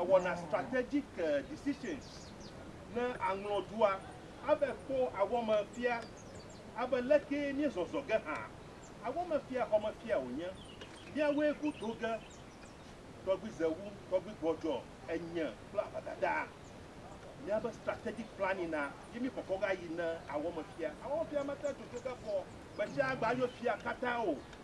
ewɔna strategic decisions ne aŋlɔ dua abe kpo awɔme fia abe lekee mie zɔzɔ ge hã awɔme fia xɔme fia wonye miawoe go do ge tɔgbi zewu tɔgbi gbɔdzɔ enye kple abadada miabe strategic planning na ye mi kɔkɔ ga yi ne awɔme fia awɔme fia mate dzodzo ge kpɔ gbetsia gba yo fia kata o.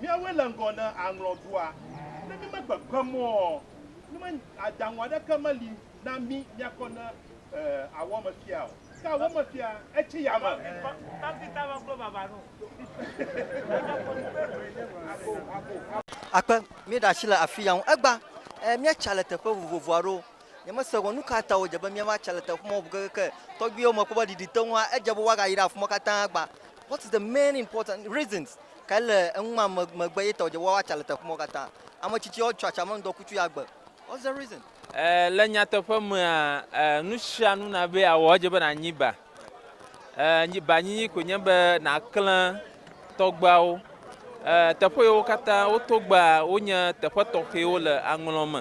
Míawoe le ŋgɔ ne aŋlɔ dua. Ne mímekpekpem oɔ, nu me adaŋu aɖeke meli na mí míakɔ ne awɔ me fia o. Ke awɔ me fia etsi ya me. Akpe, míeɖe asi le afia ŋu. Egbã, ɛɛ, míatsa le teƒe vovovo aɖewo. Nyemese gɔ̃ nukata wòdze be míava tsa le teƒe ma ŋu kekeake. Tɔgbuiwo mekpɔ be ɖiɖi te ŋua, edze be woagayra afima katã gbã. What is the main important reasons Ke le eŋ ma me megbe ye tɔdje woawa tsa le teƒ mɔ kata ame tsitsi ɔ tsɔ atsame ŋdɔ kutsu ya gbe. What's the reason? E, le nyateƒe mea, e, nusianu na be awɔ edje be na nyi ba. E, nyi ba nyinyi koe nye be na klẽ tɔgbeawo. E, teƒe yewo kata wo to gbea, wo nye teƒe tɔxɛwo le aŋlɔ me.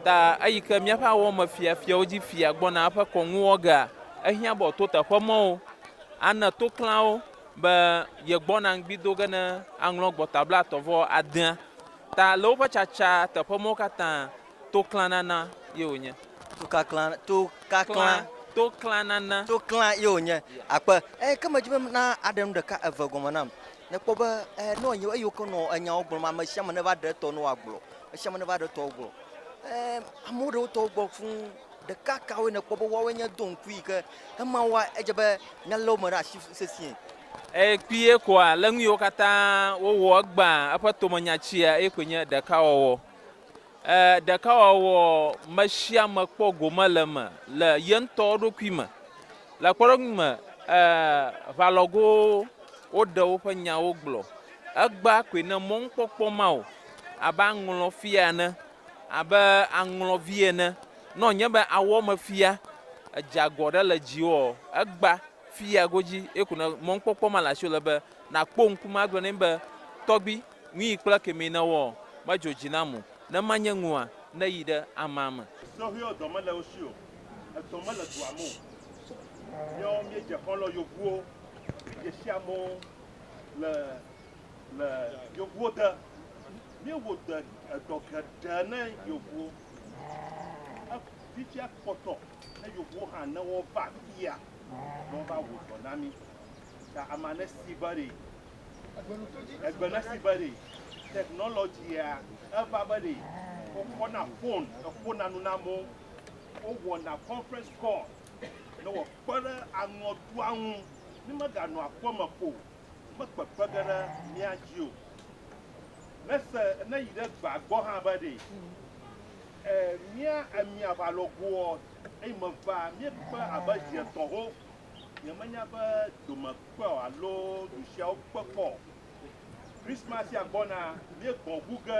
Ta eyi ke miaƒe awɔ me fia fiawo dzi fia gbɔna eƒe kɔŋuwɔgea, ehiã be ɔto teƒe mɔwo, ane to klãwo. be yegbɔna ŋgbi do ge ne aŋlɔ Gbɔta Blaetɔ̃ vɔ adea ta le woƒe tsatsa teƒe mɔwo katã. Toklã nana ye wònye. Tokaklã, tokaklã. Toklã nana. Toklã ye wònye. Akpe. Eye ke medi be na aɖe nu ɖeka eve gɔme nam. Nekpɔ be e nɔ anyi eyiwo ke nɔ enyawo gblɔm ame sia ame neva ɖe etɔ ne wòagblɔ. Ame sia ame neva ɖe etɔwo gbɔ. E amewo ɖe wotɔwo gbɔ fũu. Ɖeka kawoe nèkpɔ be woawoe nye do ŋkui yi ke ema woa, edze be nya lé wo me ɖe asi sesĩe? Eye kpuie koa, le nuyiwo katã wowɔ egbea, eƒe tomenya tsia, eye koe nye ɖekawɔwɔ. E, ɖekawɔwɔ mesiame kpɔ gome le eme le yeŋtɔ eɖokui me. Le kpɔɖeŋu me, e, ʋalɔgowo woɖe woƒe nyawo gblɔ. Egbea koe ne mɔnukpɔkpɔ ma o, abe aŋlɔfia ene. Abe aŋlɔvi ene. Nɔ nye be awɔ me fia edze agɔ ɖe le dziwɔ egba fia godzi eku ne mɔnkpɔkpɔ ma le asi le be na kpo ŋku ma gblɔ ne be tɔgbi nui kple kemi ne wɔ me dzo dzi na mo ne ma nye ŋua ne yi ɖe ama me. Sɔhɛɔ dɔ mele wo shio, edɔ mele dua me o. Míawo míedze xɔlɔ yovuwo, míedze shi amewo le. Le yevuwo te, míewɔ dɔ geɖe ne yevuwo. Fifia kpɔtɔ ne yevuwo hã ne wova afia ne wova wɔ dɔ na mí. Ta ame aɖe si be ɖe egbe ne si be ɖe technology-a eva be ɖe wokɔna fon eƒona nu na amewo, wowɔna conference call ne woakpe ɖe aŋɔdua ŋu. Mímeganɔ aƒeme ko o. mekpekpe ge ɖe mía dzi o. Nese neyi ɖe gbea gbɔ hã be ɖe e mía emi aʋa lɔ goɔ, eyi meva míekpe abe zi etɔ̃ho. Nyemenya be dome kpe alo du siawo kpe kpɔ o. Krismasia gbɔna, míegbɔ̃ ŋu ge.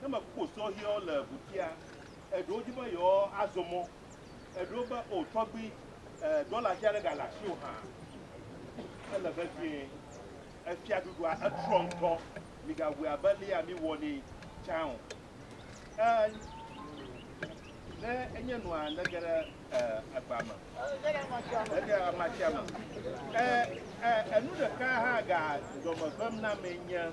Ne mekpɔ sɔhɛwo le ʋutia, eɖewo di be yewoazɔ mɔ. Eɖewo be, O tɔgbui, e, dɔla vi aɖe gale asiwò hã. Ele vevie. Efiaɖuɖua etrɔ ŋutɔ. Migawɔe abe leyea miwɔ nɛ tsã o. E, ne enye nua, nege ɖe, e, agba me. Nege ɖe amatia me. E, e, enu ɖeka hã ga dɔme vem na amee nye.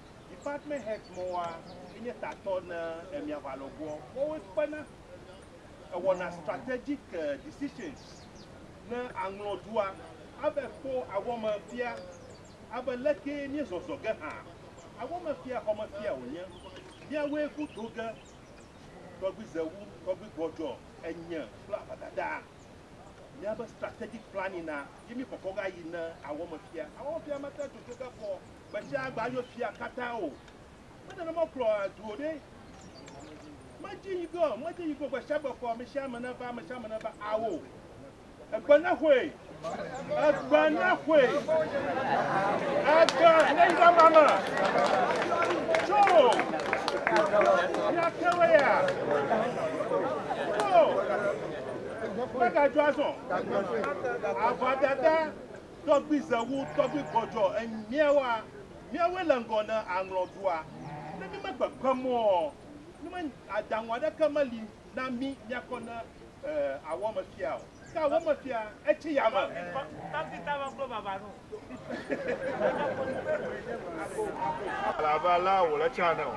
Department heads mɔ wa enye tatɔ ne emia va lɔ goɔ. Mɔ wo kpena ewɔna strategic decisions ne aŋlɔ dua abe kpɔ awɔme fia abe leke mie zɔzɔ ge hã awɔme fia xɔme fia wo nye. Miawoe go do ge tɔgbi zewu tɔgbi gbɔdzɔ enye kple avadada miabe strategic planning na ye mi kɔkɔ ga yi ne awɔme fia. Awɔme fia mate dzodzo ge kpɔ Gbesiagbe ayo fia katã o. Menye nenema wokplɔ du o ɖe. Medzi yi ge o, medzi yi ge o. Gbesiagbe kɔ amesiame neva, amesiame neva ao. Egbe nexoe, egbe nexoe, egbe neyi ɖe ame me. Tso, míate wo ya. Tso, megadzɔ azɔ. Avɔdada, Tɔgbui Zewu, Tɔgbui Gɔdzɔ, Enyi míawoa? Míawoe le ŋgɔ ne aŋlɔ dua. Ne mímekpekpem oɔ, nume adaŋu aɖeke meli na mí míakɔ ne awɔme fia o. Ke awɔme fia etsi yame. Alabala wòle tsã ne o.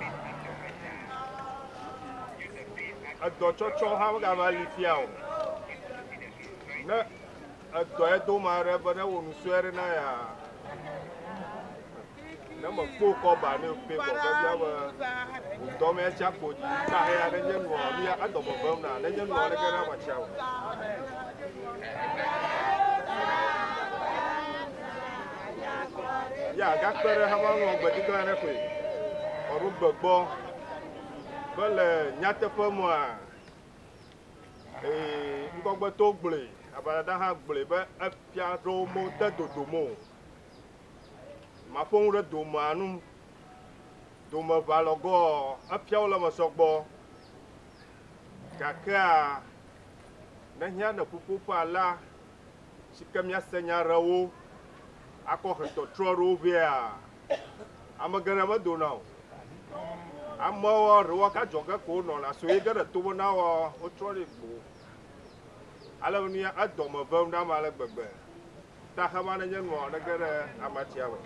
Edɔtsɔtsɔ hã megava li fia o. Ne. Edɔ Edom aɖe be newɔ nu sue aɖe na yaa. Ne mekpo kɔ ba ne pe kɔ ke bia be dɔ me tsia kpo dzi ta he aɖe nye nua nu ya edɔ me vem na ne nye nua ne ke na ma tsia. Ya gakpe ɖe hama ŋlɔ gbedikla aɖe koe. Ɔɖo gbegbɔ be le nyateƒe mɔa Ee, ŋgɔgbeto gblɔe, aʋadada hã gblɔe be efia aɖewo mede dodom o. Maƒo nu ɖe domea ŋu. Domeʋa lɔ goɔ, efiawo le eme sɔgbɔ. Gakea, ne hiã ne ƒuƒoƒe alea si ke míase nya ɖe wo akɔ he tɔtrɔ aɖewo vɛa, Ame geɖe medona o. Amewo ɖewo ka dzɔge ko wonɔna so ye ge ɖe to me na wo wotrɔ ɖi gbo. Ale be nuya edɔ me vem ɖam ale gbegbe. Ta hema ne nye nua ne ge ɖe amatia me.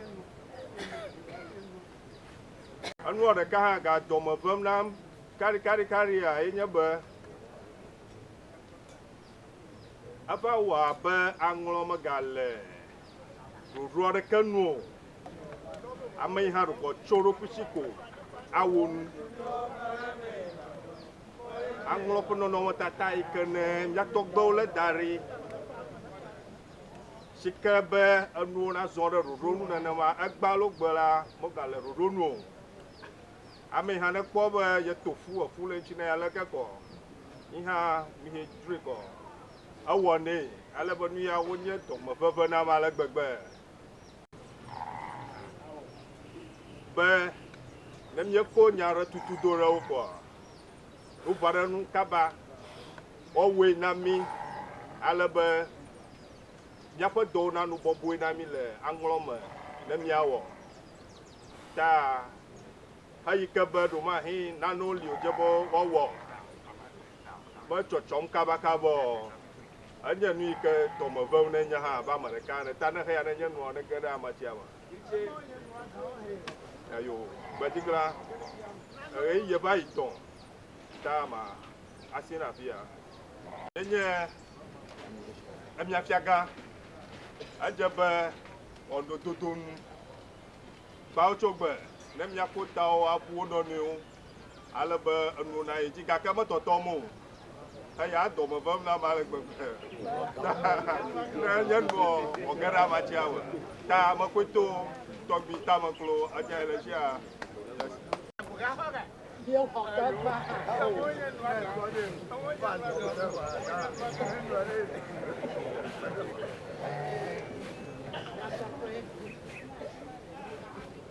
Enua ɖeka hã ga dɔ me vem nam karikarikarĩa ye nye be eva wɔ abe aŋlɔ mega le ɖoɖo aɖeke nu o. Ame yi hã ɖukɔ tso eɖokui si ko awo nu. Aŋlɔ ƒe nɔnɔmetata yi ke ne mía tɔgbewo lé da ɖi si ke be enuwo nazɔ ɖe ɖoɖo nu nenema egbea alo gbe la megale ɖoɖo nu o. Ame yi hã ne kpɔ be yeto fu, efu le ŋuti na ye aleke kɔ? Yi hã mi he dzroe kɔ. Ewɔnɛ ale be nuyawo nye dɔmeʋeʋẽ nam ale gbegbe be ne míeko nya aɖe tutu do ɖe wo kɔa, wovaa ɖe enu kaba. Woawɔe na mí ale be míaƒe dɔwo nanu bɔbɔe na mí le aŋlɔ me ne míawɔ ta heyi ke be ɖewomahe nanewo li wòdze be woawɔ. Be tsɔtsɔm kabakabɔɔ, enye nu yi ke dɔme vem ne nye hã abe ame ɖeka ene. Ta neheya ne nye nua nege ɖe amatsia me. Eyo, gbedziglã, ɣeyiɣie va yi tɔ ta ma asi na afi ya. Nye nye emia fiagã. Edze be wɔnɖododo nu. Kpawo tso gbe ne mia ƒo tawo abu wo nɔnɔewo. ale be enona yi dzi gake metɔtɔm o. Eya dɔme vem nam ale gbegbe. Ne nye nuɔ wòge ɖe amatsia me. Ta mekoe to tɔgbi tame klo edzea le tsia. Thank you.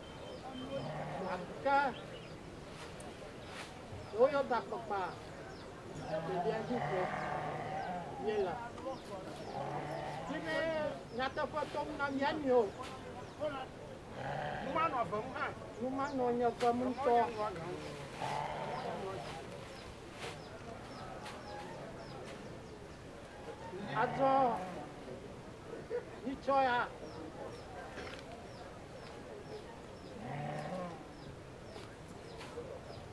Gake woyɔ gakpakpa ɖeɖia dzi ƒo míele. Di be nyateƒe tɔm na mía nɔewo. Numanɔ eve nu hã. Numanɔ nye eve nu ŋutɔ. Azɔ, mitsɔ ya.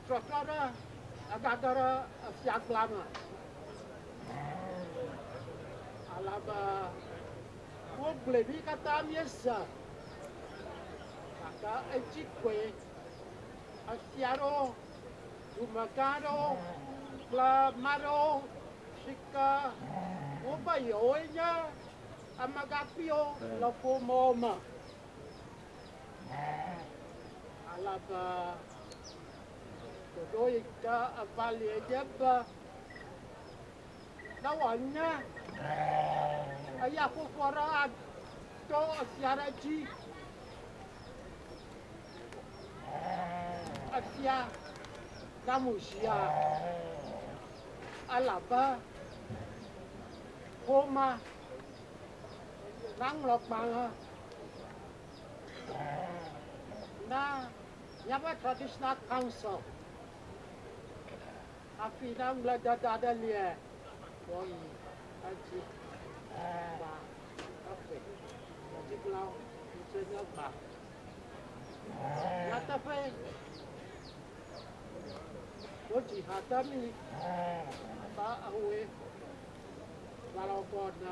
Trɔtrɔ ɖe egage ɖe efia gbla me. Alebe wogblɔe mí katã míese gake edzi koe. Efia aɖewo, dumegã aɖewo kple ame aɖewo si ke wobe yewoe nye Amegãkpuiwo le ƒomewo me ale be ɖoɖo yi ke eva lie nye be ne wòanye eyaƒoƒo aɖe ato efia aɖe dzi, efia namu zia elabe. Xoma naŋlɔ gbalẽ na míaƒe Traditional Council hafi ne ŋugbledede aɖe lia, woayi edzi va eƒe dziɖulawo yi ke nye gba. Nyateƒee. Wotsi ha ta mi ba ahoe, balɔbɔ na.